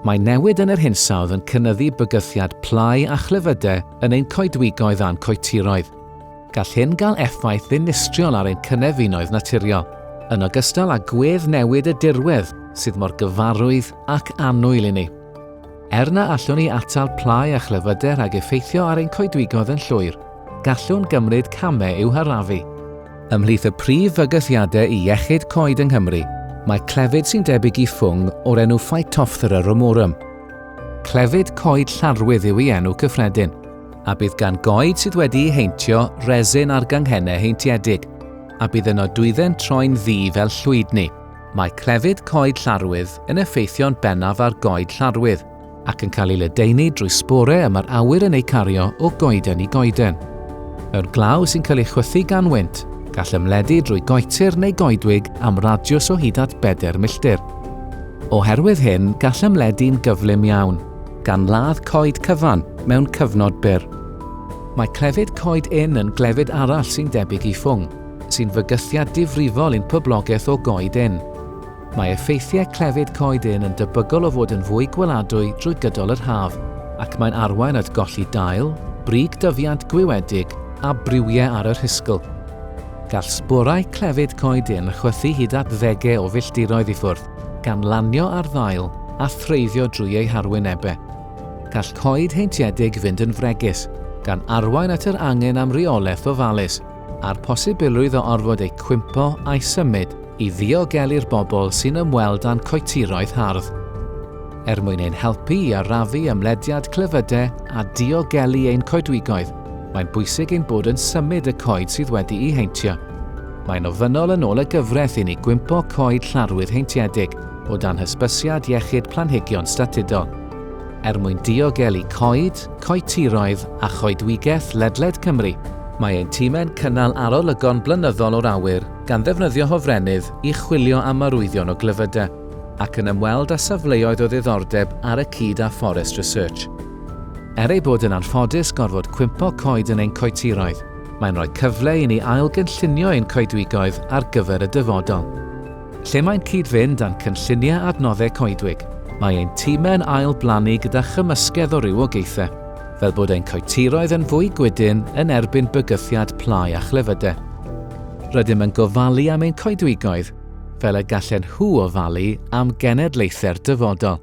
Mae newid yn yr hinsawdd yn cynyddu bygythiad plâu a chlefydau yn ein coedwigoedd a'n coetiroedd. Gall hyn gael effaith ddinistriol ar ein cynefinoedd naturiol, yn ogystal â gwedd newid y dirwedd sydd mor gyfarwydd ac annwyl i ni. Er na allwn ni atal plâu a chlefydau rhag effeithio ar ein coedwigoedd yn llwyr, gallwn gymryd camau i'w harafu. Ymhlith y prif fygythiadau i iechyd coed yng Nghymru, mae clefyd sy'n debyg i ffwng o'r enw Phytophthora ramorum. Clefyd coed llarwydd yw ei enw cyffredin, a bydd gan goed sydd wedi'u heintio resin ar ganghennau heintiedig, a bydd yno dwydden troi'n ddu fel llwydni. Mae clefyd coed llarwydd yn effeithio'n bennaf ar goed llarwydd, ac yn cael ei ledaenu drwy sbore y mae'r awyr yn eu cario o goeden i goeden. Mewn glaw sy'n cael ei chwythu gan wynt, gall ymledu drwy goetir neu goedwig am radiws o hyd at bedair milltir. Oherwydd hyn, gall ymledu'n gyflym iawn, gan ladd coed cyfan mewn cyfnod byr. Mae clefyd coed ynn yn glefyd arall sy'n debyg i ffwng, sy'n fygythiad difrifol i'n poblogaeth o goed ynn. Mae effeithiau clefyd coeden yn debygol o fod yn fwy gweladwy drwy gydol yr haf, ac mae'n arwain at golli dail, brig dyfiant gwiwedig a briwiau ar y rhisgl. Gall sborau clefyd coeden chwythu hyd at ddegau o filltiroedd i ffwrdd, gan lanio ar ddail a threiddio drwy eu harwynebau. Gall coed heintiedig fynd yn fregus, gan arwain at yr angen am reolaeth ofalus. a'r posibilrwydd o orfod eu cwympo a'u symud i ddiogelu'r bobl sy'n ymweld â'n coetiroedd hardd. Er mwyn ein helpu i arafu ymlediad clefyde a diogelu ein coedwigoedd, mae'n bwysig ein bod yn symud y coed sydd wedi'u heintio. Mae'n ofynnol yn ôl y gyfraith i ni gwympo coed llarwydd heintiedig o dan hysbysiad iechyd planhigion statudol. Er mwyn diogelu coed, coetiroedd a choedwigaeth ledled Cymru, mae ein timau'n cynnal arolygon blynyddol o'r awyr gan ddefnyddio hofrennydd i chwilio am arwyddion o glyfydau, ac yn ymweld â safleoedd o ddiddordeb ar y cyd â Forest Research. Er ei bod yn anffodus gorfod cwympo coed yn ein coetiroedd, mae'n rhoi cyfle i ni ail-gynllunio ein coedwigoedd ar gyfer y dyfodol. Lle mae'n cyd-fynd â'n cynlluniau adnoddau coedwig, mae ein timau'n ail-blannu gyda chymysgedd o rywogaethau, fel bod ein coetiroedd yn fwy gwydyn yn erbyn bygythiad plâu a chlefydau. Rydym yn gofalu am ein coedwigoedd fel y gallen nhw ofalu am genedlaethau'r dyfodol.